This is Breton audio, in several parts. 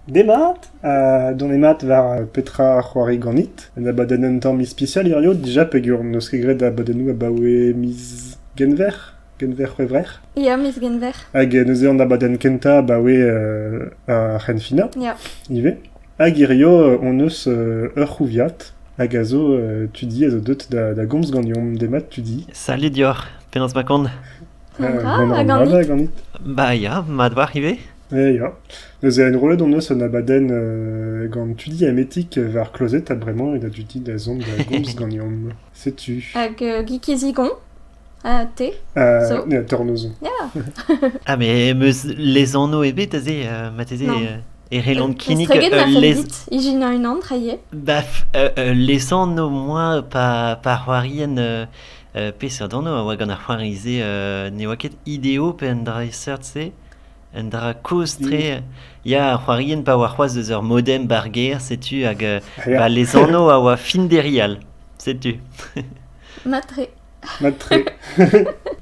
Demat, dont mat war petra a c'hoari ganit. Un abadenn un tamm ispisial hirio dija peger n'eus ket graet abadennoù abaoe miz Genver, Genver C'hwevrer. Ya, miz Genver. Hag neuze an abadenn kentañ abaoe ar c'henfinañ Ya. ivez. Hag hirio hon eus ur c'houviad hag a zo tudi a zo deut da, da gomz ganeomp. Demat, tudi. Salut dioc'h, penaos ma kont? An dra, a ganit? gaganit. Ba ya, mat war ivez. Eh ya, neuze enrollet hon eus un abadenn gant tudi Ametik war klozet ha bremañ eo da dudi da zont da gomz ganeomp. Setu. Hag Guy Zigon ha te zo. Ya, te anozon. Ah, mais emeus les anno ebet aze, mateze... E relant kinnig les... Ijinañ unan trailhe. Baf, les anno moa pa pa c'hoarien peseurt anno a oa gant ar c'hoari-se ne oa ket ideo pe un dra seurt-se? Un dra kozh-tre ya, ar c'hoarienn pa oa c'hoazh eus ur modem ba'r gêr setu hag ba les anneaux a oa fin derial setu. Matre. Matre.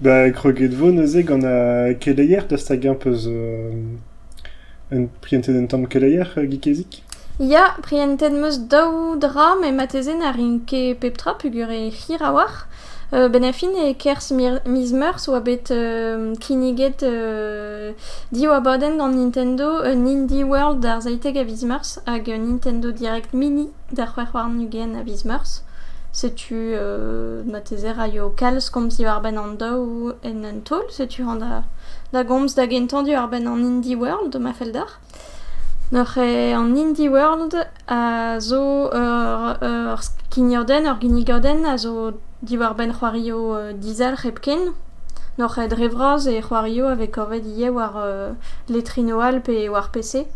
Ba kroget 'vo neuze gant ar keleier, dost hag eñ 'peus un prientet un tamm keleier, Gikezik? Ya, prientet 'm eus daou dra met marteze na rin ket pep tra peogwir eo hir a-walc'h. Bennafin e-kerzh miz Meurzh 'oa bet kinniget div abadenn gant Nintendo, un Indie World d'ar seitek a viz Meurzh hag un Nintendo Direct Mini d'ar c'hwec'h warn-ugent a viz Meurzh. Setu marteze raio kalz komz diwar-benn an daou en un taol. Setu hañ da gomz da gentañ diwar-benn an Indie World ma fell deoc'h. Noc'h eo an Indie World a zo ur skignadenn, ur ginnigadenn a zo diwar-benn c'hoarioù dizalc'h hepken. Noc'h eo dre vras e c'hoarioù a vez kavet ivez war letrino all pe war PC.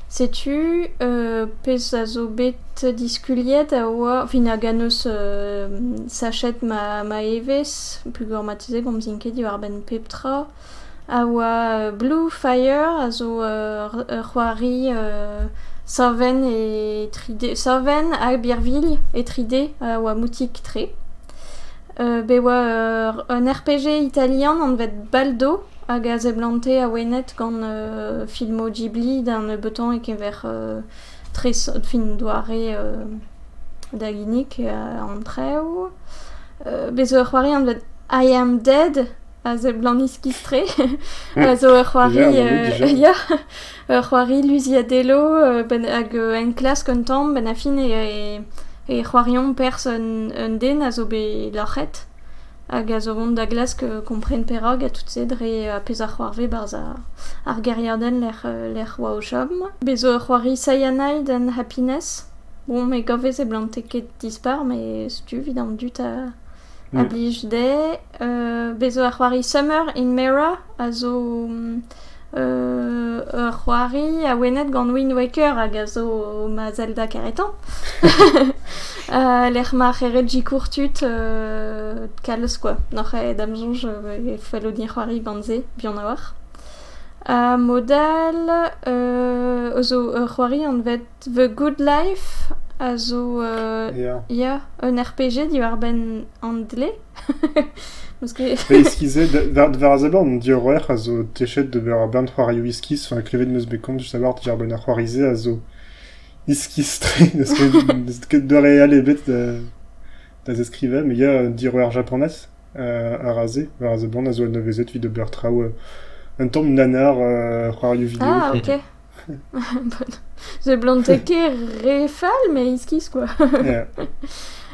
Setu pezh a zo bet diskuliet a oa fin hag a neus sachet ma evezh, peogwir marteze 'komzin ket diwar-benn pep tra. a oa Bluefire a zo ur c'hoari savenn e tri D savenn ha birvilh e tri D a oa moutik-tre. bet oa un RPG italian anvet Baldo hag a seblante awenet gant filmoù Ghibli da nebeutan e-keñver tresout fin doare da ginnig an traoù. bet zo ur c'hoari anvet I Am Dead. a seblant iskis-tre, a zo ur c'hoari, ya, ur c'hoari luziadello hag enklask un tamm, benn ar fin e c'hoariomp perzh un den a zo bet loc'het hag a zo vont da glask kompren perak ha tout se dre ar pezh a c'hoarvez barzh ar gêriadenn lec'h oa o chom. Bez' zo ur c'hoari Cyanide and Happiness. Bon, me gavez e blante ket dispar, met setu 'vit an dud a blij dezhe. Bez' zo ur c'hoari Summer in Mera a zo ur c'hoari awenet gant Wind Waker hag a zo ma Zelda keretañ lec'h ma c'herred sikour tud kalz kwa n'oc'h aet da'm soñj e fello din c'hoari gant se buan a-walc'h. Modal zo ur c'hoari anvet... The Good Life a zo Ya. ya, un RPG diwar-benn an dle. Parce que Pe eskizet, war, war a zaber, on dit horreur a zo techet de ber bern c'hoarioù iskiz, enfin klevet m'eus bet kont du savoir diar benn ar c'hoari-se a zo iskiz-tre, n'eus ket n'eus ket doare all ebet da, da zeskrivañ, mais il y a un dit horreur japonaise euh, a razé, war a zaber a zo un nevezet evit de ber traoù euh, un tamm nanar euh, c'hoarioù vidéo. Ah, quoi. ok. Seblantek ket re fall, mais iskis quoi.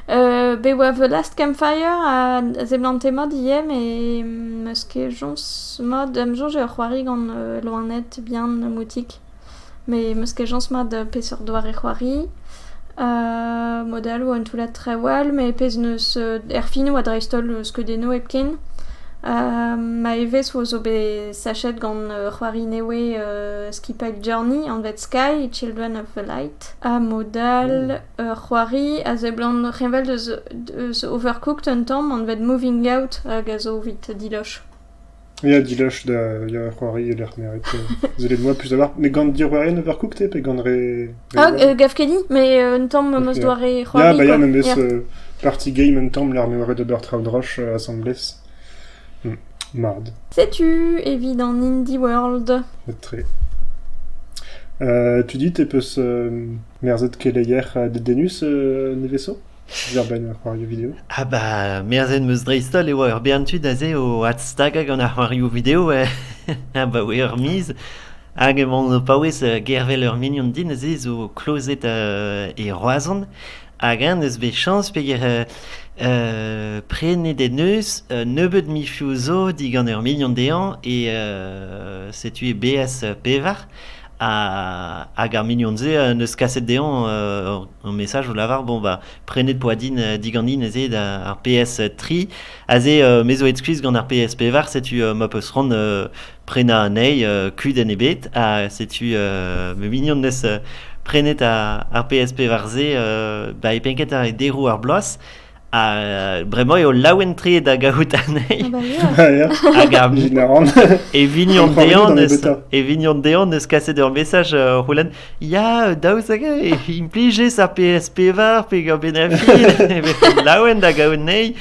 bet oa The Last Campfire ha seblante mat ivez, met meus ket soñj mat d'am soñj eo c'hoari gant loened bihan moutik. Mais meus ket soñj mat peseurt doare c'hoari. Mod all oa un toullad Trawal, met pezh neus erfinoù ha dreist-holl skeudennoù hepken. ma evezh zo bet sachet gant ur c'hoari nevez skipailh Journey anvet Sky, Children of the Light. Ha mod all ur c'hoari a seblant reñvel deus Overcooked un tamm anvet Moving Out hag a zo evit Diloch. Ya, dilach da ya c'hoari e-lec'h m'eo ret. Sellet moi plus d'abord. Mais gant diorroerien Overcooked pe gant re... re- Ah, euh, gaf ket di, mais euh, un tamm am eus Ok. doare c'hoari. Ya, bah ya, quoi. memes Yeah. euh, party game un tamm, l'armeourez de Bertraud Roche euh, assemblés. Hmm. Mard. Sais-tu, evit an Indie World Très. Euh, tu dis, t'es peus euh, merzet keleier euh, de Denus euh, neveso Diorren ar c'hoarioù video. Ha ba merzet 'm eus dreist-holl e oa ur bern tud aze o adstagañ gant ar c'hoarioù video abaoe ur miz. Hag emaon o paouez euh, gervel ur mignon din aze zo klozet euh, e Roazhon. Hag eñ neus bet chañs peger euh, euh, prenet en deus un nebeud michioù zo digant ur mignon dezhañ e euh, setu e beaz pevar. hag ar mignon-se en deus kaset dezhañ un message o lavar bon bah prenez Poadine diganin aze ar PS3 aze me zo excuse gant ar PSP var setu ma peus ran prena anezhi kudenn ebet ha setu ma mignon neus prenet ar PSP var se ba e penket ar deroù ar bloaz bremañ eo laouen-tre da gaout anezhi hag e vignon dehan eus kaset ur messaj uh, c'houlenn ya daou zag implijez ar PSP var pe gant benafil laouen da gaout nei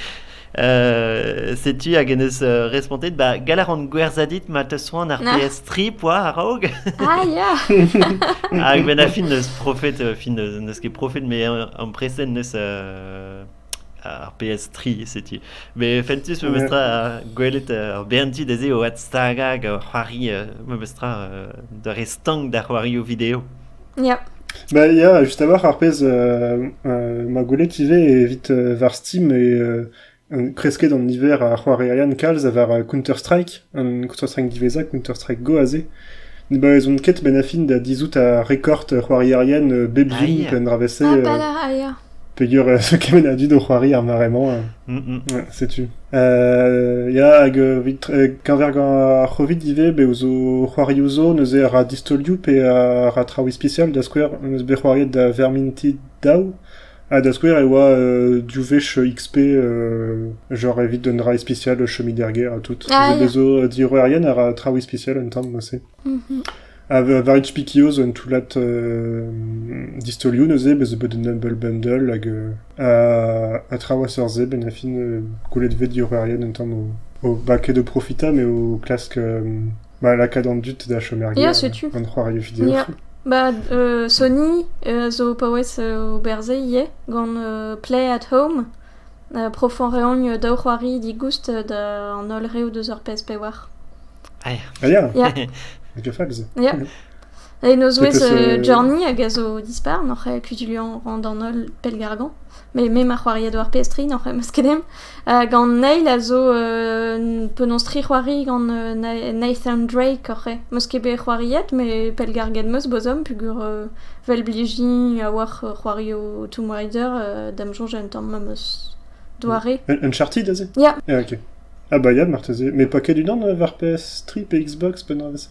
euh, setu hag en eus uh, respontet ba galaran gwerzadit ma teus soan ar PS trip oa araog ah ya hag benafil neus profet uh, fin neus ket profet mais en presen neus ar PS3 setu. Be fentus memes tra gwelet ur berndi dezhe o adstagañ hag o c'hoari memes tra d'ur re stank da c'hoarioù video. Ya. Bah, ya, juste à voir, ar pezh euh, euh, ma gwelet ivez evit euh, war Steam et Kresket an niver a c'hoarierien kalz war Counter-Strike, an Counter-Strike diwezhañ, Counter-Strike Go aze, ne baouezont ket benn-ha-fin da dizhout ar rekord c'hoarierien bep hini penn-dra-vez-se peger kement a dud o c'hoari ar mare-mañ. Setu. Ya, hag keñver ar C'hovid ivez, bev zo c'hoarioù zo, neuze ra distolioù pe ra traoù ispisial, da skouer, em eus bet c'hoariet da Vermintide daou, Ha da skouer e oa div wech XP genre evit un dra ispisial chomit er gêr ha tout. Ah, ya. Bez zo diorroerien a ra traoù ispisial un tamm neuze. Mhm. Ha war ut Spikioz, un toullad euh, distolioù neuze, bez zo bet un Humble Bundle hag euh, ha, ha traoù a seurt se, ben a fin euh, goulet 'vet diorroerien un tamm o, o, ba ket o profitañ, mais o klask euh, Bah, lakaat an dud da chom er gêr, Ya, setu. gant c'hoarioù video. Ya. Ba, euh, Sony euh, zo paouez euh, oberze ivez gant euh, Play at Home. Euh, profan reogn daou c'hoari digoust euh, da an holl reoù deus ar PSP war. Ah, ya. Ya, Megafax. ya. Cool. En o zouez, euh, Journey hag a zo dispar, n'oc'h e kuzuliañ rand an holl pellgargañ. Mais me ma c'hoariad war PS3, n'oc'h e maskedenn. Uh, gant Neil a zo uh, penaos tri c'hoari gant uh, Nathan Drake oc'h e. Meus ket bet c'hoariet, mais pellgarget meus bozom pugur uh, vel blijin a-walc'h uh, c'hoario Tomb Raider uh, da'm soñj un tamm ma meus doare. Un Uncharted aze? Ya. Yeah, ok. Ah bah ya, marteze. Mais pas que du dans euh, var PS3 et Xbox, penaos ça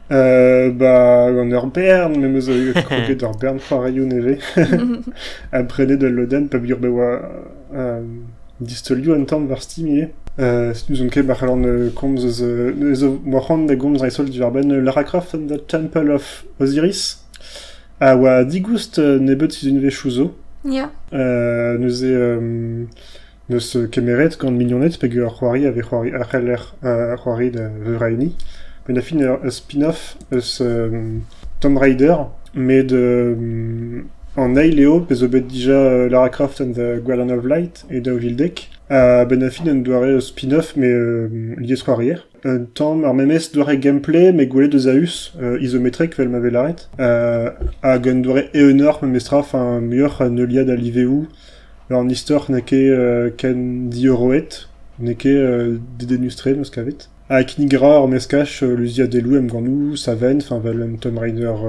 Bah, gant ur bern, me 'm eus kroget ur bern c'hoarioù nevez. ha prenet ul lodenn peogwir bet oa euh, distolioù un tamm war Steam ivez. Euh, n'ouzon ket, ma c'hallan euh, komz eus... Euh, zo ma c'hoant da gomz dreist-holl diwar-benn Lara Croft and the Temple of Osiris. A oa digoust nebeut sizunvezh zo. Yeah. neuze... N'eus kemeret gant mignoned peger c'hoari a vez c'hoari a c'heller c'hoari da veur a hini. Met da fin ur spin-off eus Tomb Raider met an eil eo pezh zo bet dija Lara Croft and the Gwyllon of Light e daou vil dek. A-benn ar fin un doare spin-off met liesc'hoarier. un tamm ar memes doare gameplay met gwelet eus a-us, izometrek vel ma vez lâret, hag un doare eeunoc'h memestra, enfin muioc'h a neuliad a liveoù. Ur istor n'eo ket ken diorroet, n'eo ket dedennus-tre meus kavet. Ha kinnig a ra ur meskaj luziadeloù emgannoù, savenn, enfin vel un Tomb Raider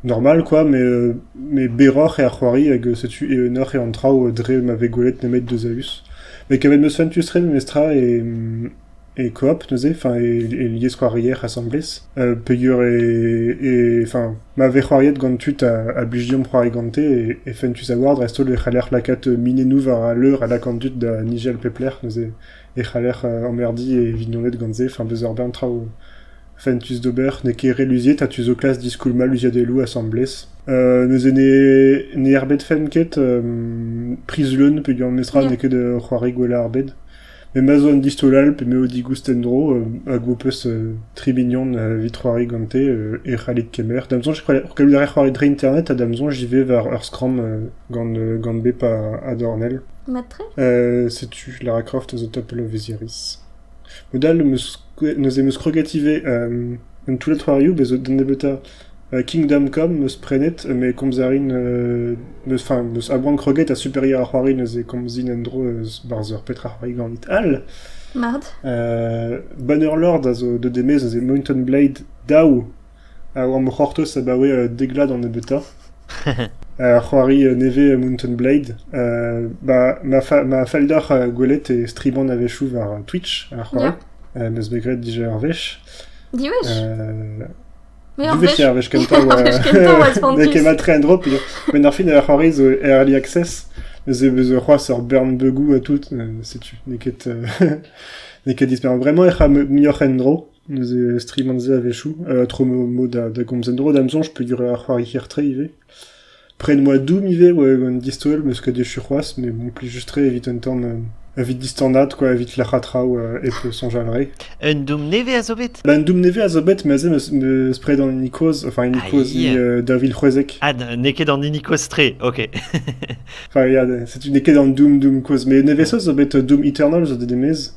Normal kwa, met berroc'h eo ar c'hoari hag setu eeunoc'h eo an traoù dre ma vez gwelet nemet deus a-us. Met kavet 'm eus fentus-tre memestra e koop neuze, enfin e lieskhoarier asambles peogwir enfin ma vez c'hoariet gant tud a blij deomp c'hoari gante e fentus a-walc'h dreist-holl e c'haller lakaat minennoù war al leur a lak an dud da nijal pep lec'h neuze e c'haller emmerdiñ e vignoned gant se, enfin beus ur bern traoù. Fentus d'ober, n'eo ket re luziet ha tu zo klask diskoulmañ luziadeloù asambles. neuze ne, ne erbedfen ket Priz-Leun peogwir memestra n'eo ket c'hoari gwell ar bed. Met ma zo un distol all pe m'eo digoust en-dro hag ho peus tri mignon evit c'hoari gante e c'hallit kemer. Da'm soñj e c'hallout a rer c'hoari dre internet ha da'm soñj ivez war ur skramm gant, gant bep a dornell. Mat-tre? setu Lara Croft eus Opel Osiris. Mod-all neuze em eus kroget ivez un toullad c'hoarioù bez' zo da nebeutañ Kingdom-come 'm eus prenet met komz a rin n'eus enfin n'eus a-boan kroget ha Superior a c'hoari neuze komzin en-dro eus barzh ur petra c'hoari ganit all. Mard. Banner Lord a zo deut e-maez neuze Mountain Blade daou. a oa am c'hortoz abaoe deglad an nebeutañ, ha c'hoari nevez Mountain Blade. ma ma felldoc'h gwelet e striban a-wechoù war Twitch a c'hoari, m'eus bet graet dija ur wech. Diwech? Mais ur wech. Ur wech kentañ oa... N'eo ket mat tre en-dro peogwir... Men ar fin a c'hoari zo Early Access, mes e beus c'hoazh ur bern bugou ha tout, setu n'eo ket n'eo ket disper. Bremañ ec'h a muioc'h en-dro, Neuze strivañ se a-wechoù, tro mo da gomz en-dro da'm soñj peogwir ar c'hoari hir-tre ivez. Pred moa doum ivez oa un distaol 'm eus ket echu c'hoazh met bon plij-tre evit un tamm evit distanaat quoi evit lec'haat traoù hep soñjal re. Un doum nevez a zo bet? Ba un doum nevez a zo bet neuze 'm eus pred an hini-kozh enfin hini-kozh daou vil c'hwezek. Ah n'eo ket an hini-kozh-tre ok. Enfin ya n'eo ket an doum doum kozh mais nevez-holl zo bet doum Eternal zo deut e-maez.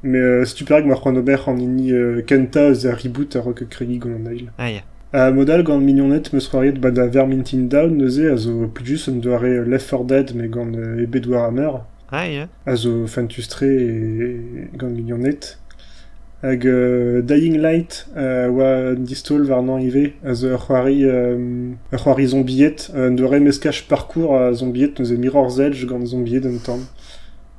Met setu perak emañ c'hoant ober an hini kentañ eus ar reboot a-raok kregiñ gant an eil. Ah ya. Ha mod all gant mignoned 'meus c'hoariet 'ba da Vermintide Down neuze a zo plijus un doare Left 4 Dead mais gant ebet Warhammer. Ah ya. A zo fentus-tre e- gant mignoned. Hag Dying Light a oa distaol warnañ ivez a zo ur c'hoari ur c'hoari zombied un doare meskaj parkour a zombied neuze Mirror's Edge gant zombied un tamm.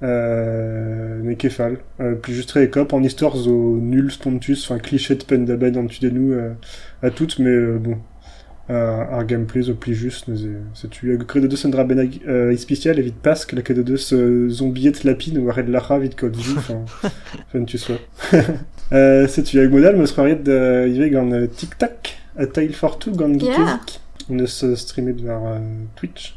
N'eo ket fall. Plijus-tre e kap. An istor zo nul, spontus, enfin kliched penn-da-benn an tudennoù ha tout, mais bon. Ar gameplay zo plijus neuze. Setu hag Queue de Deux un dra bennak ispisial evit Pask, la Queue de Deux zombied lapin war hed Lac'ha evit Cody. Enfin, tu sois. Setu hag mod all 'm eus c'hoariet ivez gant Tic Tac ha Tile for Two gant Geekezik. 'm eus streamet war Twitch.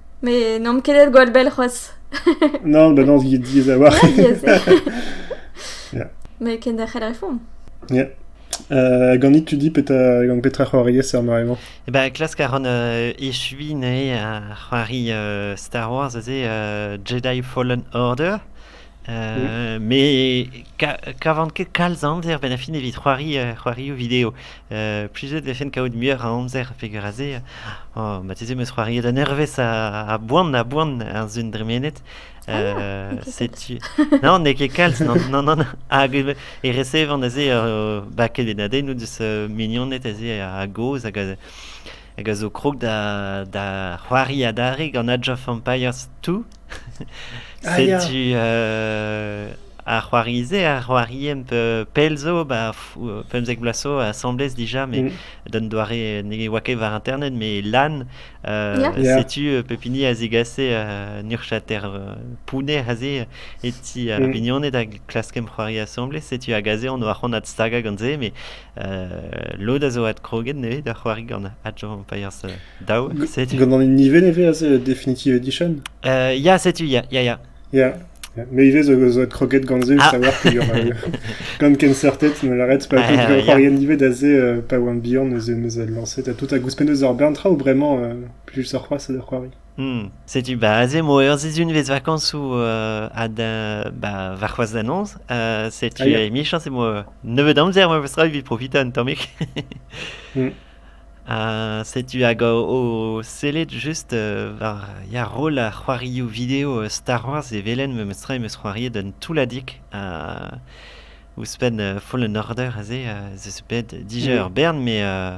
Mais n'omp ket aet gwall bell c'hoazh. Non, bah non, diaes a-walc'h. Ouais, yes. Yeah. Mais kenderc'hel a refomp. Euh, Ganit, tu dis petra gant petra c'hoariez er mare-mañ Eh ben, klask a ran euh, echuiñ neuze ar c'hoari euh, Star Wars, aze euh, Jedi Fallen Order. Euh, mais kavan ket kalz amzer benn a fin evit c'hoari euh, c'hoarioù video. Euh, plusieurs defen kaout muioc'h a amzer peger a se. Oh, mateze meus c'hoariet un ervez a, a boan a boan ar zun dremenet. Euh, setu... Non, n'eo ket kalz, non, non, non. Hag e recevan aze uh, baket en adennoù deus uh, mignoned aze a, a gozh hag a, hag a zo krog da c'hoari adarre gant Age of Empires 2. Setu ar c'hoari-se, ar c'hoari-emp pell zo, ba, pemzek bloaz zo, asamblez dija, me mm. d'un doare ne oa ket war internet, mais lan, uh, setu pepini a zegase uh, nurchater uh, pounner aze, e ti ar mm. mignoned a klaskem c'hoari asamblez, setu a gaze, on oa c'hon stag gant se, mais lod a zo adkroget nevez da c'hoari gant Age of Empires daou. Gant an niver nevez a Definitive Edition? ya, setu, ya, ya, ya. Ya, mais ivez zo adkroget gant ze, ah. savoir qu'il y aura gant Kensertet, mais l'arrête, pas ah, c'hoari nivet da ze, pas One Beyond, me a lancé, t'as tout à gouspen eus ar berntra ou vraiment, plus sur quoi ça doit croire Setu ba aze emañ ur sizhunvezh vakañsoù a-da- ba warc'hoazh da noz. Setu Ah, ya. emichañs emañ nebeut amzer memestra evit profitañ un tammig. Mm. Ha setu hag o, o sellet just euh, war ya roll ar c'hoarioù video euh, Star Wars e welen memestra em eus c'hoariet un toulladig. Ha ouzhpenn euh, Fallen Order aze, euh, ez eus bet dija ur Mm. bern, mais euh,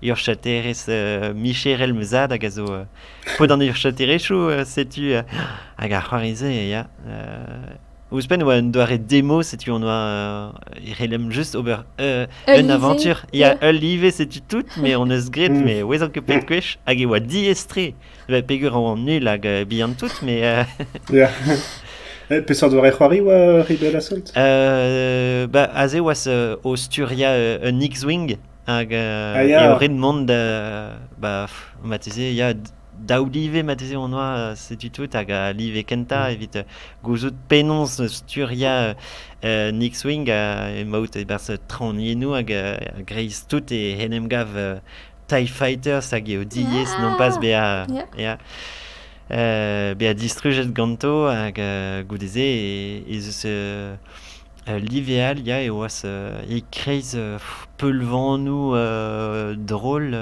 Urchaterezh micherel ma zad hag a zo paotr an urchaterezhioù. setu hag ar c'hoari-se ya. Ouzhpenn e oa un doare demo, setu on oa e c'hellem just ober un aventure. Ya, ul live, setu tout, mais on eus graet, mm. mais ouezan ket pet gwech, hag e oa diaes-tre. Peger an nul hag bihan tout, mais... yeah. Peseurt doare c'hoari oa Rebel Assault? Bah, aze oa o sturia un X-Wing, Hag Ah, euh, eo ya. ret mont da... Bah, pff, marteze, ya, daou live marteze on oa, euh, setu tout, hag al live kentañ Mm. evit euh, gouzout penaos sturiañ euh, Nick Swing ha emaout e-barzh traoñiennoù hag euh, a-greiz tout e en em gav euh, TIE Fighters hag eo diaes nompas Ah, bezañ ya. ya, euh, bezañ distrujet ganto hag euh, goude-se ez eus euh, Live all ya e oas e-kreiz peulvanoù drol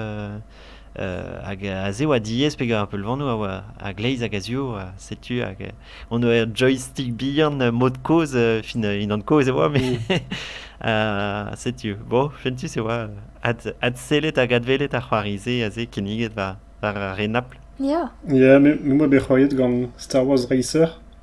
hag a-se oa diaes pegañ peulvanoù a oa a-gleiz hag a-zioù ha setu hag on ur joystick bihan mod-kozh fin unan-kozh e oa met setu bon fentus e oa adsellet hag adwelet ar c'hoari-se aze kinniget war ar re Napl. Ya me 'oa bet c'hoariet gant Star Wars Racer.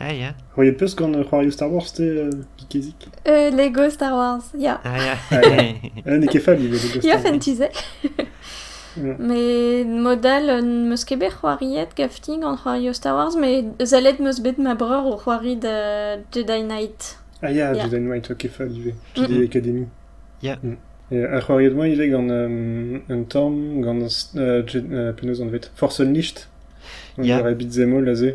Ah ya, C'houi e peus gant c'hoarioù Star Wars te, euh, Geekezik Euh, Lego Star Wars, ya. ah ya. Ah, Eh, n'eo ket fal ivez Lego Ya, Star Wars. fentu se. Ja. Mais modal euh, n'eus ket bet c'hoariet gafti gant c'hoarioù Star Wars, mais zellet meus bet ma breur o c'hoari de Jedi Knight. Ah ya, Ya. Jedi Knight, ok, fal ivez. Tu Mm, dis mm. Academy. Ya. Mm. Et a c'hoariet moa ivez gant euh, un tamm, gant euh, J- euh, penaos anvet Force Unleashed. On Ja. dirait beat'em all aze.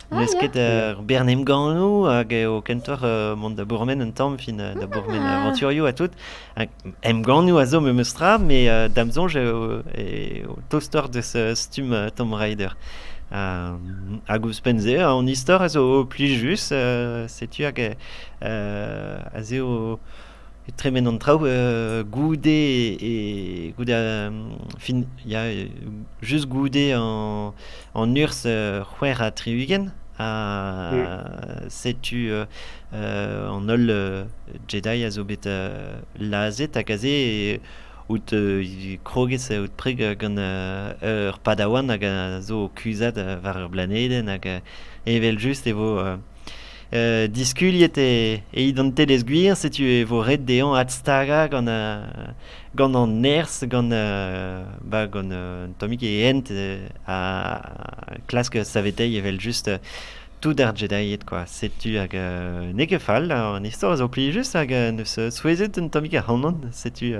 Mesket ur bern emgannoù hag eo kentoc'h mont da bourmen un tamm fin da bourmen avanturioù ha tout. Emgannoù a zo memes tra, mais da'm soñj eo tostoc'h deus stumm Tomb Raider. hag ouzhpenn-se, an istor a zo plijus. setu hag ez eo e tremen an traoù goude e goude fin ya just goude an urzh c'hwec'h ha tri-ugent ha setu an holl Jedi a zo bet lazhet hag aze out kroget out preg gant ur padawan hag a zo o kuzhat war ur blanedenn hag evel just e vo diskuliet e identelezh gwir setu e vo ret dezhañ adstagañ gant gant an nerzh gant ba gant un tammig e hent a klask saveteiñ evel-just tout ar Jedied kwa setu hag n'eo ket fall an istor a zo plijus hag neus souezhet un tammig ac'hanon setu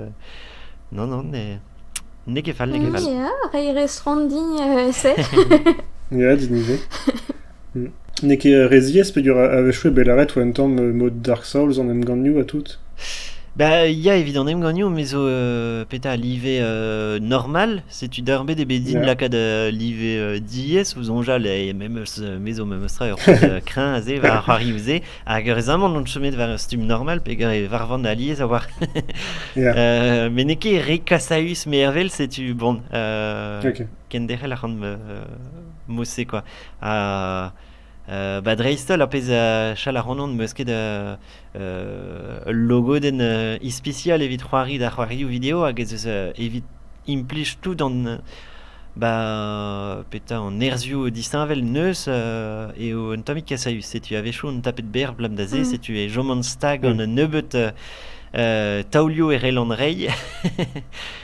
non non n'eo ket fall n'eo ket fall ya reiñ reizh ront din e-se ya din ivez N'eo ket re ziaes peger a-wechoù eo bet lâret e oa un tamm mod Dark Souls an emgannioù ha tout. Bah ya evit an emgannioù me zo euh, petra live euh, normal. Setu d'ar bet eo bet din Yeah. lakaat euh, live euh, diaes ouzh onjal et memes euh, me zo memes tra ur pezh euh, kreñv aze war ar c'hoarioù-se hag rezamant on chomet war ur stumm normal peger e varvan alies a war Yeah. Euh, met n'eo ket re kasaüs mervel setu bon euh, Ok. kenderc'hel ac'han euh, mod-se quoi. Ba dreist-holl, ar pezh a chal ac'hanon, 'm eus ket ul logodenn ispisial evit c'hoari d'ar c'hoarioù video hag ez eus evit implij tout an ba petra an nerzhioù disheñvel 'neus eo un tammig kasaüs. Setu a-wechoù on tapet berr 'blam da se, setu e choman stag gant un nebeud taolioù e rell an reiñ.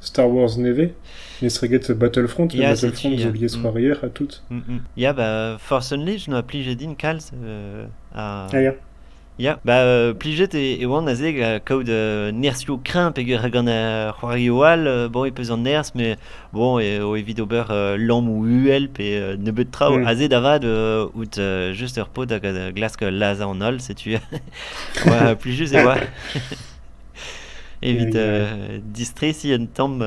Star Wars nevez, mestreget Battlefront, Ya, et Battlefront setu, zo ya. liesc'hoarier ha tout. Mm, mm. Ya, bah, Force Unleashed, noa plijet din kalz. euh, ha- Ah ya, Ya, ba euh, plijet e, e oan aze ga- kaout euh, nerzhioù kreñv peger gant uh, c'hoarioù all. euh, bon, e peus an nerzh, mais bon, e, o evit ober euh, lamm ou uhel pe euh, nebeut traoù. Mm. Aze da vat, euh, out euh, just ur paotr hag a glask lazañ an holl, setu. Oa plijus e oa. Evit distresiñ un tamm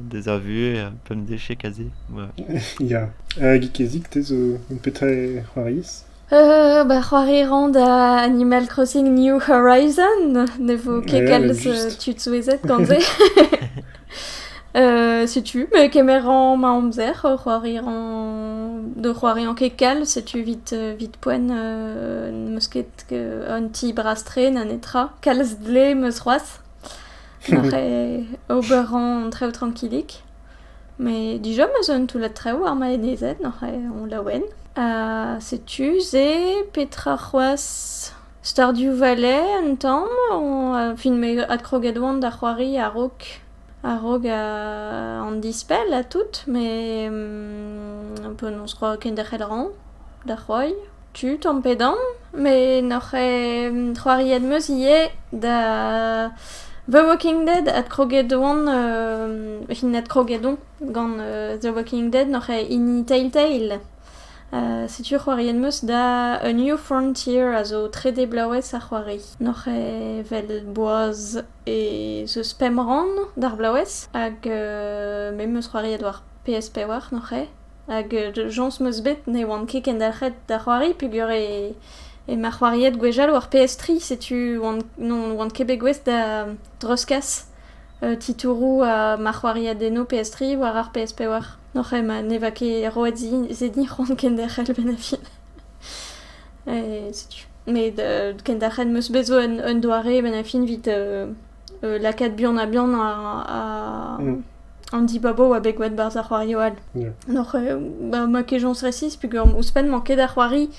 deus ar vuhez un peu an decheg aze. Ya, Geekezig, te zo petra c'hoariez? ba c'hoari rañ da Animal Crossing New Horizon. Ne vo ket kalz tud souezhet gant se. setu, me kemer rañ ma amzer o c'hoari rañ, d'o c'hoariañ ket kalz. Setu 'vit 'vit poent n'em eus ket un ti bras-tre na netra. Kalz dle meus c'hoazh. M'ac'h ober an traoù trankilik. Met dija meus un toullad traoù ar maenezed n'oc'h on laouen. Ha setu se, petra c'hoazh? Stardioù Valais un tamm? Fin, me adkroged oan da c'hoari a-raok A-raok an dispell ha tout, met penaos roa kenderc'hel rañ da c'hoari tu tamm pe damm. Met n'oc'h ket c'hoariet 'm eus ivez da The Walking Dead adkroget oan hin adkroget on gant The Walking Dead n'oc'h ket hini Telltale. Setu c'hoariet 'm eus da A New Frontier a zo trede blaouez a c'hoari. N'oc'h ket 'vel boaz. Ez eus pemp rann d'ar blaouez hag me 'm eus c'hoariet war PS-Pevar nac'h eo hag jañs 'm eus bet ne oan ket kendalc'het da c'hoari peogwir eo ma c'hoariet gwechall war PS3. Setu n'oan ket bet gouest da dreuzkas titouroù ha ma c'hoariadennoù PS3 war ar PS-Pevar nac'h eo ma ne va ket roet se din c'hoant kenderc'hel benn ar fin. setu. Met kendalc'het 'm eus bet zo un doare benn-ha-fin evit lakaat buan-ha-buan an dibabo oa bet gwet 'barzh ar c'hoario all. Donc ma kejañs resis peogwir ouzhpenn mañ ket ar c'hoari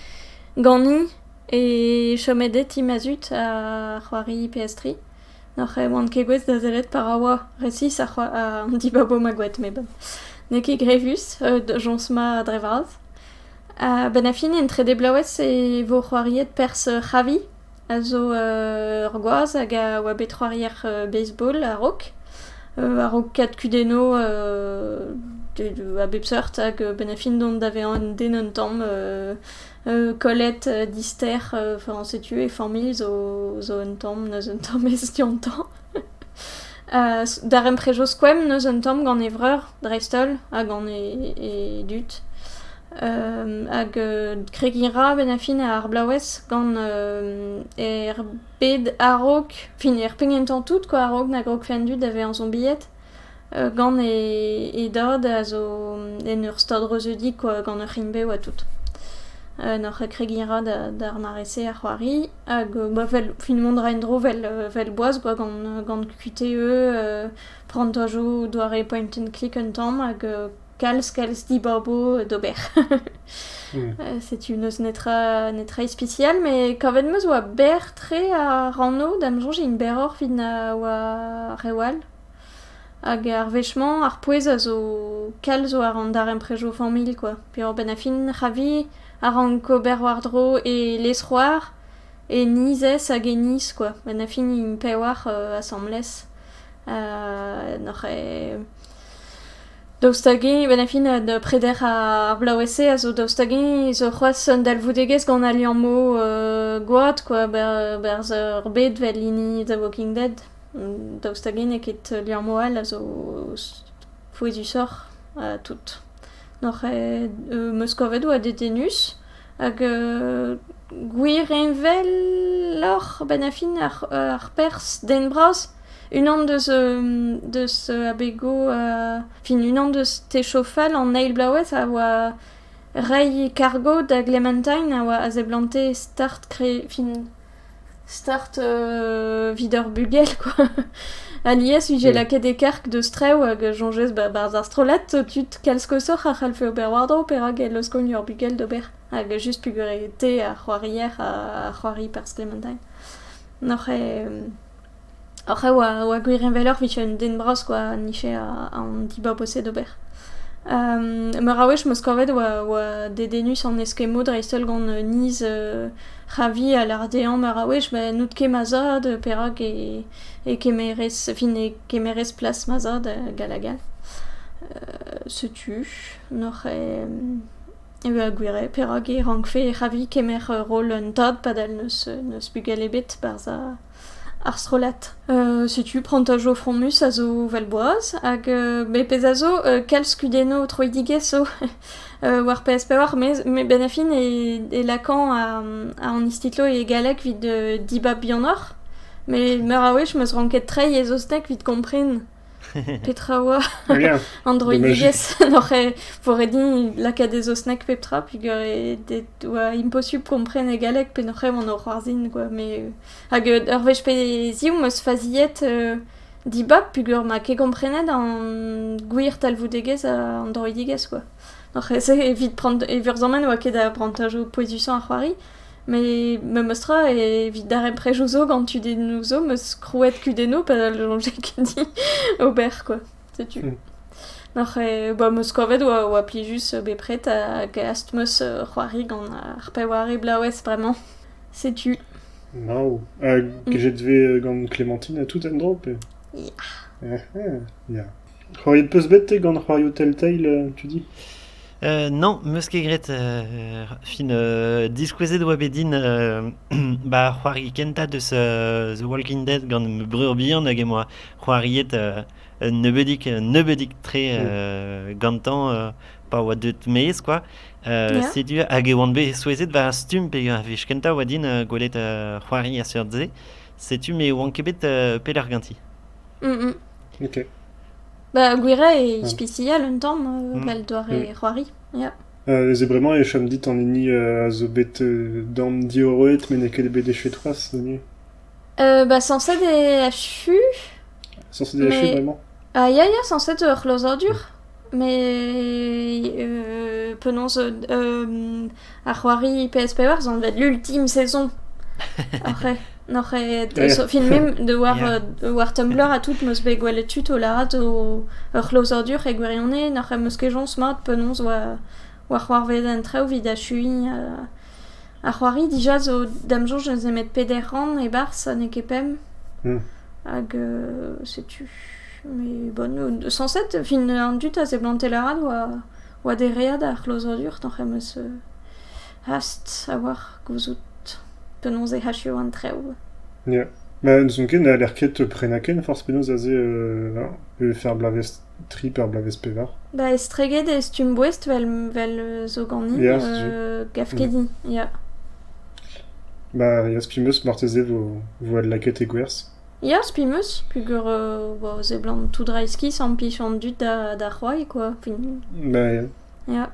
ganin e chomet e ti ma zud ar c'hoari PS3. N'oc'h oan ket gouest da sellet pa ra oa resis an dibabo ma gwet met bon n'eo ket grevus, jañs mat dre vras. A-benn ar fin, en trede bloavezh e vo c'hoariet perzh Javi, a zo ur gwaz hag a oa bet c'hoarier baseball a-raok. A-raok kad kudennoù a bep seurt hag a-benn ar fin dont da vezañ un den un tamm kollet, dister, enfin setu e familh zo un tamm, n'eus un tamm ez dioutañ. Darempred zo skoemp neus un tamm gant e vreur dreist-holl ha gant e dud. hag kregiñ 'ra benn-ar-fin ar blaouez gant er bed a-raok, fin er pegement tamm tout quoi a-raok na grogfe an dud da vezañ zombied. gant e dad a zo en ur stad reuzeudik gant ur c'hrimpe oa tout. N'hor kregiñ a ra d'ar mare-se ar c'hoari hag fin mont a ra en-dro 'vel boaz kwa gant QTE, prantajoù, doare point and click un tamm hag kalz kalz dibabo d'ober. Setu n'eus netra netra ispisial met kavet 'meus oa berr-tre ar rannoù da'm soñj int berroc'h 'vit na oa reoù all. Hag ar wech-mañ ar pouez a zo kalz war an darempredoù familh kwa. Diwar-benn ar fin ra vi a rank ober war-dro e lezc'hoar, e nizez hag e niz kwa. Benn ar fin int pewar asambles noc'h eo daoust hag-eñ benn ar fin da preder ar bloavezh-se a zo daoust hag-eñ zo c'hoazh un dalvoudegezh gant al liammoù gwad kwa, berzh ur bed 'vel hini The Walking Dead. Daoust hag-en n'eo ket liammoù all a zo fouezusoc'h ha tout. N'oc'h meus kavet oa dedennus hag gwir heñveloc'h a-benn ar fin ar perzh den bras. Unan deus deus abegoù fin unan deus techou fall an eil bloavezh a oa reiñ kargo da Clementine a oa a seblante start fin start evit ur bugel quoi. Alies vije lakaet e-karg deus trev hag soñjez ba 'barzh ar strollad tud kalz koshoc'h a c'hallfe ober war-dro perak e laoskont ur bugel d'ober hag just pugarete ar c'hoarier ha ar c'hoari perzh Clementine. N'oc'h ket... Oc'h a oa, a oa gwir heñveloc'h 'vije un den bras kwa, anife an dibab o-se d'ober. meur a wech 'm eus kavet oa oa dedennus an eskemmoù dreist-holl gant niz ra vi a lâr dezhañ meur a wech ben n'out ket ma zad, perak e e kemerez fin e kemerez plas ma zad hag all hag all. setu n'oc'h eo a gwir eo perak e rankfe ra vi kemer roll un tad padal n'eus n'eus bugel ebet barzh ar... Ar strollad. setu prantajo fromus a zo vel boaz, hag me pezh a zo kalz kudennoù troidigezh zo war PS5, me benn a fin e lakaan an istitlo e galleg evit dibab bihanoc'h, met meur a wech 'm eus ranket treiñ e zostek evit kompren. Petra a oa an droidigezh n'oc'h ivore din lakaat e saozneg pep tra peger e oa imposubl kompren e galleg pe n'oc'h evan o c'hoarzhin kwa met hag ur wech pe ziv 'm eus faziet dibab peger ma ket komprenet an gwir talvoudegezh an droidigezh kwa n'oc'h evit prant e vurzamant 'oa ket a brantajo pouezusañ ar c'hoari. Met memes tra, evit darempredoù zo gant tudennoù zo, 'm eus krouet kudennoù padal soñjez ket dit ober quoi, setu. Oc'h e- ba 'm eus kavet 'oa plijus bepred ha gast 'm eus c'hoari gant ar peware blaouez bremañ, setu. Mau. Hag jet 'vez gant Clémentine à tout endroit pe? Ya. Ya. C'hoariet 'peus bet te gant c'hoarioù Telltale, tu dis? Euh, non, 'meus ket graet euh, fin euh, diskouezet oa bet din euh, ba c'hoari kentañ deus euh, The Walking Dead gant ma breur bihan hag em boa c'hoariet euh, un nebeudik un nebeudik tre euh, gantañ euh, pa oa deut maez quoi. Euh, Yeah. setu hag e oan bet souezhet war ar stumm peger a wech kentañ oa din euh, gwelet euh, c'hoari a seurt se. Setu me oan ket bet euh, pelec'h ganti. Mm, mm. Ok. Bah, Gouira est ispicial un temps, euh, Mm. bah, le doare Mm. c'hoari. Yeah. Euh, c'est vraiment, et cham dit, an hini euh, a zo bet euh, dorn diorroet, met n'eo ket bet echu troaz, zo ni. Euh, bah, censé des FU. Censé des echu, Mais- vraiment? Ah, ya, ya, censé de c'hlozadur. Mais penaos ar c'hoari PS4 zo anvet l'ultime saison oc'h n'oc'h aet filmet da war war Tumblr ha tout 'm eus bet gwelet tud o lâret o ur c'hlozadur e gwirionez n'oc'h em eus ket joñs mat penaos oa c'hoarvezet an traoù 'vit achuiñ. Ar c'hoari dija zo d'am soñj ne 'z eo 'met peder rann e-barzh ha n'eo ket pemp. Hag setu met bon sañset fin an dud a seblante lâret oa dereat ar c'hlozadur toc'h em eus hast a-walc'h gouzout penaos e achuo an traoù. Ya, ma n'ouzon ket ne c'haller ket prenañ ken forzh penaos aze pe faire bloavezh. tri pe ur bloavezh pevar. Ba estreget e stumm boest 'vel vel zo ganin, Ya, setu. euh, gavkedi, ya. Bah, ya, spi 'meus marteze 'vo 'vo adlakaet e gwerzh. Ya, spi 'meus, peger euh, vo a seblant tout dreizhki sampiñ an dud da da c'hoari, quoi. Fin, Bah, ya. ya.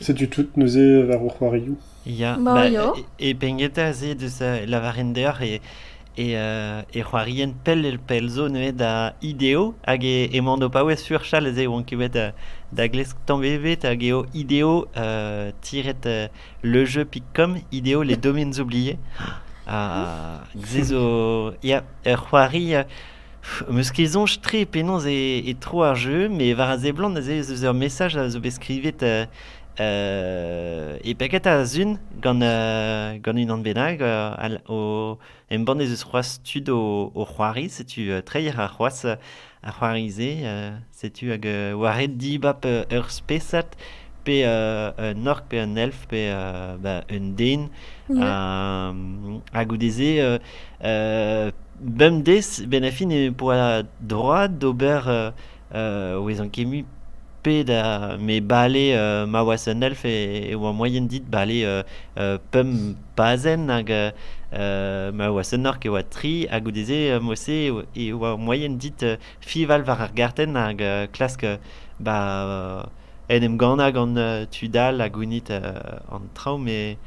Setu tout neuze war ho c'hoarioù. Ya, bah, Mario, e Bengueta se deus euh, lavarin deoc'h e, e, euh, e c'hoarien pell el pell zo neuze da ideo hag e, e mando paouez sur chal ez eo on ket bet euh, da glesk tamm ebet hag eo ideo euh, tiret euh, lejeu.com ideo les domaines oubliés. Ah, se zo... Ya, ur c'hoari... euh, pff, meus ket soñj tre penaos e, e tro ar jeu, mais war a seblant aze ez eus ur message a zo bet skrivet euh, E peget a-zun gant gant unan bennak o embann ez eus c'hoazh tud o c'hoari setu treier ar c'hoazh ar c'hoari-se setu hag war red dibab ur spesad pe un ork pe un elf pe ba un den ha goude-se bemdez benn ar fin e poa droad d'ober o vezañ kemmus pet a me bale ma oa un elf e oa moaien dit bale pemp pazenn hag ma oa un ork e oa tri ha goude-se mod-se e oa moaien dit fiñval war ar gartenn hag klask ba en em gannañ gant tud all ha gounit an traoù met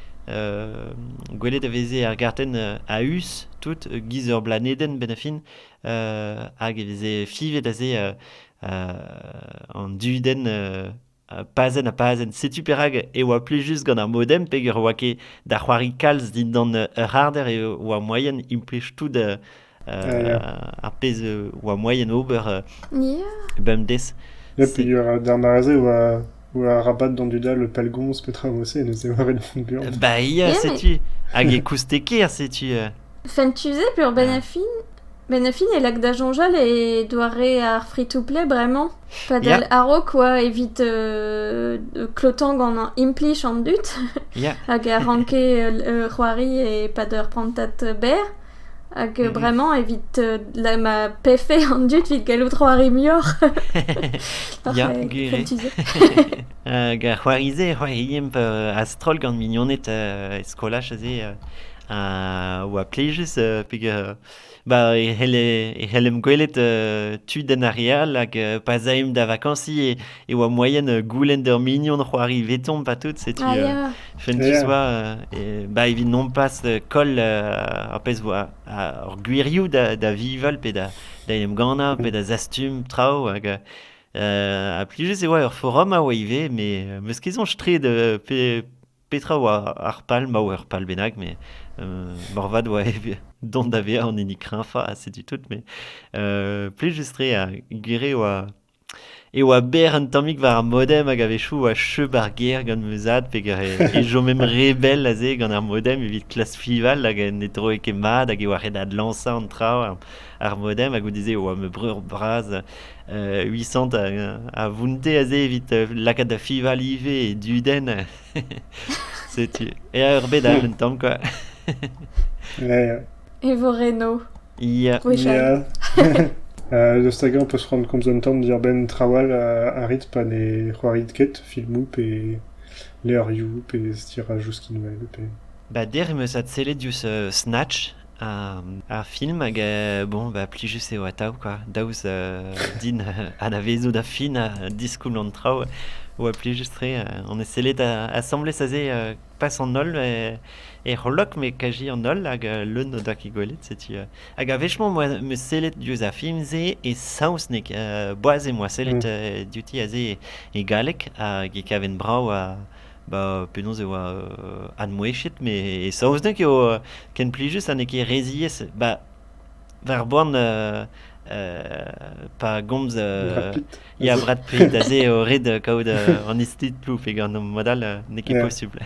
gwelet a veze ar gartenn a-us tout e-giz ur blanedenn benn ar fin. hag e veze fivet aze euh, euh, an dudenn euh, pazenn ha pazenn. Setu perak e oa plijus gant ar modem peger oa ket da c'hoari kalz dindan ur harder e oa moaien implij tout uh, ar pezh oa moaien ober uh, bemdez. Et puis, dernière année, Arabat d'an dud all pellgomz petra vo se, neuze war e dent buan. Ba ia, setu. Hag e koustekaer, setu. Fentu-se peur ben a fin, ben a fin e lak da soñjal e doare ar free-to-play bremañ. Padal a-raok oa evit euh, klotañ gant implij an dud. hag a ranke euh, c'hoari e-pad ur prantad berr. Hag euh, vraiment, evit euh, ma pefe an dud vit gallout c'hoari muioc'h. Ya, gere. Hag a c'hoarize c'hoariimp a-stroll gant mignoned e skolaj aze. a oa plijus euh, peg euh, ba e c'helle e c'hellem gwelet euh, tud en ar re all hag pa zaemp da vakansi e oa moaien euh, goulenn d'ur mignon c'hoari veton pa tout setu Ah, euh, ya. fun tu Yeah. soa euh, et bah evit nompas euh, koll euh, ar pezh vo ar gwirioù da da vival pe da da en em gannañ pe da zastum traoù hag euh, euh, ha plijus e oa ur forum a oa ivez mais euh, 'meus ket soñj tre de pe petra oa ar pal ma oa ur pal bennak mais euh, morvat oa dont da vezañ an hini kreñfañ ha setu tout mais euh, plijus tre ha gwir eo a e oa berr un tammig war ar modem hag a-wechoù a cheu ar ger gant ma zad peger e chomemp re bell aze gant ar modem evit klask fival hag ne droe ket mat hag e oa ret adlañsañ an traoù ar modem ha goude-se e oa ma breur bras Uisant a vounte aze evit lakaat da fival ivez e dudenn setu eñ erbet all un tamm kwa e vo Reno Ya. gwechall. Euh, da stagañ on peus c'hoant komz un tamm diàr-benn traoù all a, a rit pa ne c'hoarit ket, filmoù pe levrioù pe stirajou skinwel pe... Ba der em eus adsellet diouzh euh, Snatch, un, un film hag euh, bon, bah, plijus eo atav quoi. Daoust euh, din euh, anavezout a fin a diskoulm an traoù, oa plijus-tre. euh, on est sellet à, à sembler saser euh, Pas an holl e c'hollok, met kaji an holl hag leun o doa ket gwelet. Setu hag a-wechemañ em eus sellet diouzh ar film-se e saozneg. boaz em boa sellet diouti aze e galleg hag e kaven brav ba penaos e oa admouezhet. Met e saozneg eo ken plijus ha n'eo ket re ziaes. Ba War boan pa gomz ya Brad Pitt aze eo ret kaout an istitloù pe gant mod all n'eo ket posubl.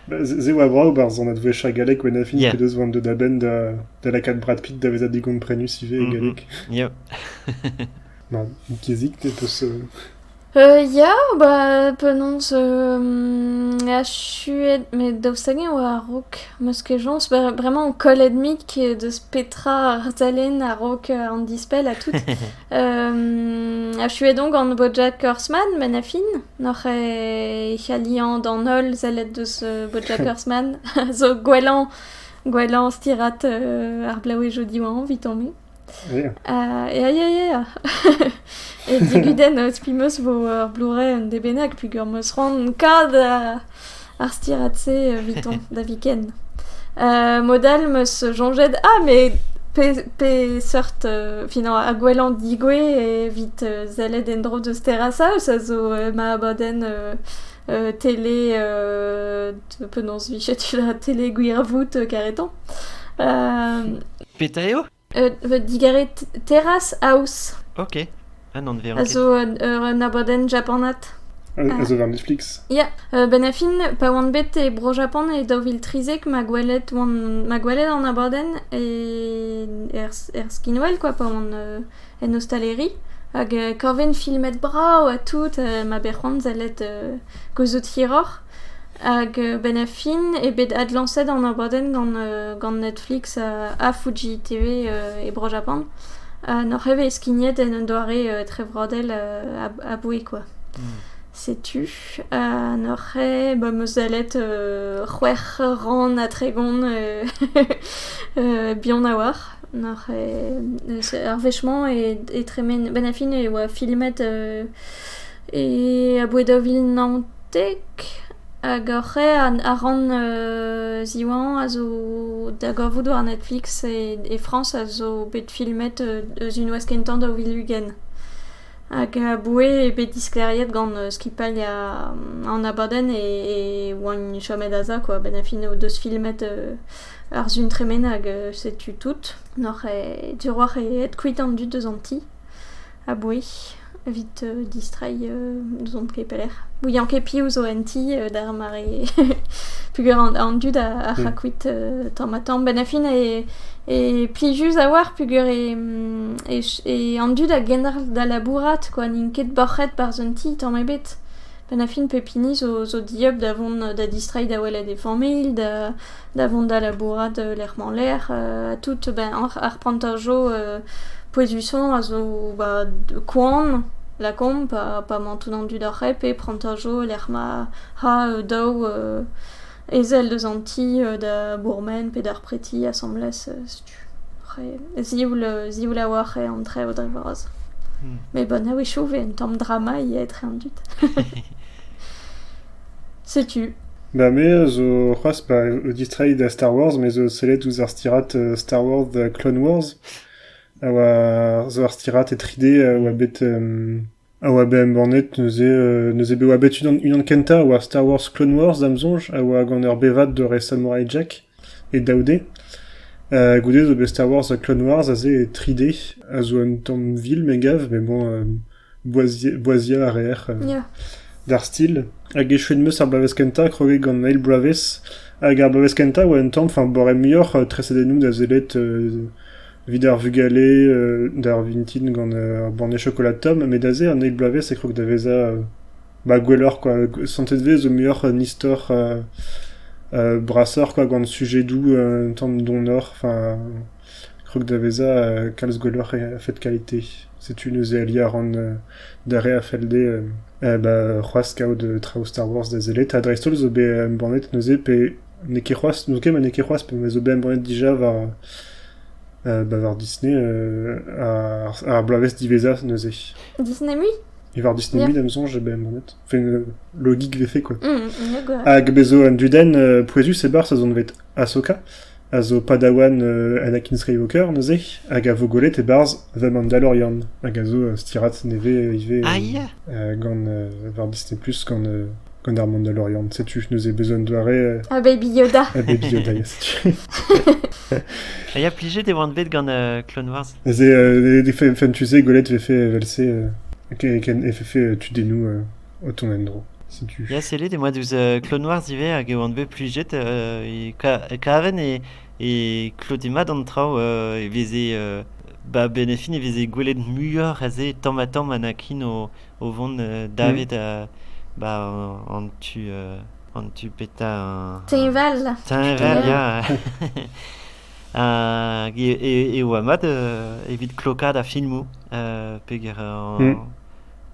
Se oa vrav barzhonad gwechall gallek Wenafin yeah. p'edeus vont da benn da, da lakaat Brad Pitt da vezañ digomprenus ivez e galleg. Yeah. Ma, Kizik, te peus... Ya, ba penaos achuet met daoust hag-eñ e oa a-raok? 'meus ket chañs, bremañ on kollet mik deus petra arsalenn a-raok an dispell ha tout. achuet on gant Bojack Horseman met na fin, n'oc'h e c'halliañ d'an holl sellet deus Bojack Horseman, zo gwellañ gwellañ stirad ar blaouezhioù Diwan 'vit on-me. Ya, ya, ya. E digudenn eus pi 'meus 'vo ur Blu-ray un dez bennak peogwir 'meus c'hoant kad ar stirad-se evitañ da viken. Mod all 'meus soñjet ah mais pe peseurt finañ ha gwellañ digouez evit sellet en-dro deus terrasaus a zo ma abadenn tele, penaos vicher tu da tele gwirvoud karetañ. Petra eo? digarez Terrace House. Ok. Ah, anveon A zo un abadenn japanat. A zo war Netflix? Ya, ben a fin, pa oan bet e Bro-Japan e daou vil trizek, ma gwelet, ma gwelet an abadenn e, er, er skinwel, quoi, pa oan en ostaleri hag kaven filmet brav ha tout ma bet c'hoarzalet gouzout hiroc'h hag benn ar fin eo bet adlañset an abadenn gant Netflix ha Fuji TV e bro Japan ha n'oc'h ket bet skignet en un doare trevrodel aboue kwa. Setu ha n'oc'h ket ba 'm eus sellet c'hwec'h rann ha tregont bihan a-walc'h. Ar wech-mañ e tremen... Benn ar fin e oa filmet aboae daou vil naontek hag hor c'hêr a ran ziwanañ a zo da gavout war Netflix e Frañs a zo bet filmet eus unvazh kentañ daou vil ugent. Hag aboae eo bet disklêriet gant skipailh an abadenn e oant chomet aze quoi. Benn ar fin o deus filmet... Ar Sun tremen hag setu tout. N'oc'h ket diroac'h aet kuit an dud eus an ti aboue evit distreiñ n'ouzon ket pelec'h. Ouian ket piv zo en ti d'ar mare peogwir an dud a ra kuit tamm-ha-tamm. Benn ar fin e plijus a-walc'h peogwir an dud a genderc'h da labourat kwa n'int ket boc'het barzh un ti tamm ebet. Benn ar fin pep hini zo dieub da vont da distreiñ da welet e familh da... da vont da labourat lec'h-mañ lec'h ha tout ben ar prantajo pouezusañ a zo ba koan lakaomp pa emañ tout an dud oc'h hep e prantajo lec'h ma ra daou ezel deus an ti da bourmen pe d'ar preti asambles setu zioul a-walc'h eo an traoù dre vras met bon a-wechoù 'vez un tamm drama ivez etre an dud Setu. Ba me a zo c'hoazh pa distreiñ da Star Wars, me zo sellet ouzh ar stirad Star Wars da Clone Wars, a oa zo ur stirad e 3D a oa bet a oa bet embannet neuze neuze bet oa bet unan unan kentañ a oa Star Wars Clone Wars da'm soñj, a oa gant ur bevad dore Samurai Jack e daou D. goude zo bet Star Wars Clone Wars aze e 3D, a zo un tamm vil me gav, mais bon... Boaziañ a reer d'ar stil hag echuet 'm eus ar bloavezh kentañ kroget gant eil bloavezh hag ar bloavezh kentañ 'oa un tamm enfin boare muioc'h tresadennoù da sellet evit ar vugale d'ar vintin gant ar banne chokolad tomm met aze an eil bloavezh e krog da vezañ ba gwelloc'h kwa santet 'vez zo muioc'h un istor brasoc'h kwa gant sujedoù un tamm donoc'h enfin. Krog da vezañ kalz gwelloc'h a-fet kalite. Setu neuze ali a ran d'ar re a felle dezhe c'hoazh kaout traoù Star Wars da sellet ha dreist-holl zo bet embannet neuze pe n'eo ket c'hoazh n'ouzon ket ma n'eo ket c'hoazh pe ma zo bet embannet dija war war Disney ar bloavezh diwezhañ neuze. Disney mui? War Disney mui da ma soñj eo bet embannet. Enfin logik 'vefe quoi. Hag bez' zo un dudenn pouezus e-barzh a zonet Ahsoka. a zo padawan Anakin Skywalker neuze, hag a vo gwelet e-barzh The Mandalorian, hag a zo stirad nevez ivez gant war Disney+, gant gant ar Mandalorian. Setu neuze besoin de doare... A Baby Yoda. A Baby Yoda, setu. J'ai affligé des oan bet gant euh, Clone Wars. C'est euh, des fan tu sais Golette fait fait tu des nous o tont en-dro. Setu. Ya, sellit, emañ diouzh uh, Klonwarz ivez hag e oan bet plijet uh, e ka- e kaven e, e klode mat an traoù uh, e veze uh, ba benefin e veze gwelet muioc'h aze tamm-ha-tamm anakin o, o vont uh, davet uh, ba an tu uh, an tu petra un- Teñval. teñval ya hag e, e, e oa mat uh, evit klokaat ar filmoù uh, peger an- Mm.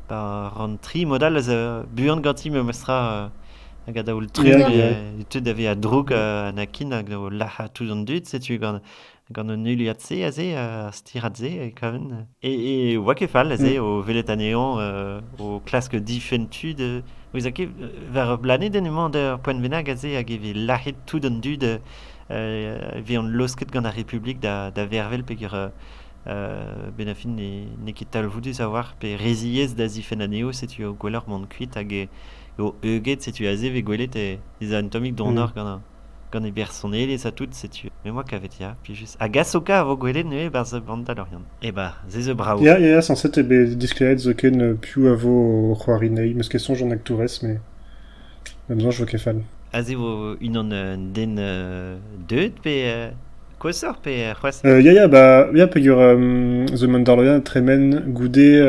Ran tri mod all a zo buan ganti memestra hag a-daol-tru e teu da vezañ droug Anakin hag o lazhañ tout an dud. Setu gant gant an heuliad-se aze, ar stirad-se e kaven. E oa ket fall aze o welet anezhañ o klask difenn tud. Ouzer ket, war ur blanedenn emañ ur poent bennak aze hag e vez lazhet tout an dud, e vezont laosket gant ar Republik da vervel peger Benafin n'eo ket talvoudus a-walc'h pe re ziaes da zifenn anezho, setu gwelloc'h mont kuit hag eo heuget, setu aze 'vez gwelet ez a un tammig donoc'h gant e bersonelezh ha tout, setu me 'oa kavet ya plijus. A gasoka a vo gwelet neuze 'barzh Mandalorian. Eh ben se zo brav. Ya, ya, sañset eo bet disklêriet zoken piv a vo o c'hoari 'nezhi, 'meus ket soñj an aktourez, mais... Bep soñj 'vo ket fall. Aze vo unan un den deuet pe koshoc'h pe c'hoazh? Ya ya ba ya peger zo un darloiad tremen goude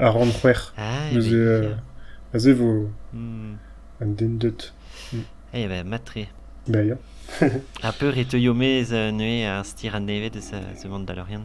ar rann c'hwec'h. Ah neuze aze vo un den deut. Eh ben mat-tre. Ya ya. Ha peure e teuio maez neuze ar Stirad Nevez deus the Mont-Dalorian?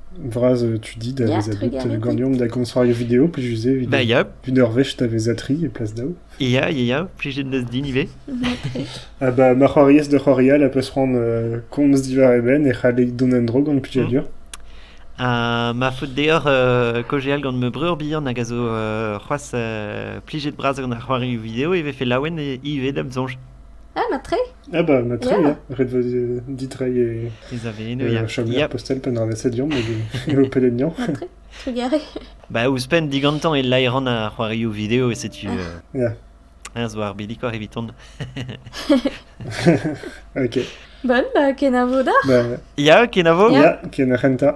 Vras euh, tu dis da Yeah, veza très bet euh, galet. ganeomp da gonzc'hoario video plijus eo Bah, ya, evit ur wech da veza tri e plas daou. ya, ya, ya, plij din din ivez. Ah bah, ma c'hoariez da c'hoarial a peus c'hoant euh, komz diwar e benn e c'hallek dont en dro gant plijadur. Ha ma faot deoc'h euh, kaozeal gant ma breur bihan hag a zo euh, c'hoazh euh, plijet bras gant ar c'hoarioù video e vefe laouen e- ivez da'm soñj. Ah, ma tre Ah bah, ma tri, ya. Ret vo ditreiñ e, Pezh a vez eno, e ya. chamier postel pe an asediañ, met e ho peleniañ. Ah, tre, trugarez. Ba, ouzhpenn digantañ e laeron ar c'hoarioù video, e setu... euh, Ya, hein, zo ar bilikor eviton. ok. Bon, bah, kenavo da. Bah, Ya, kenavo? Ya. ya, ken ar c'hentañ.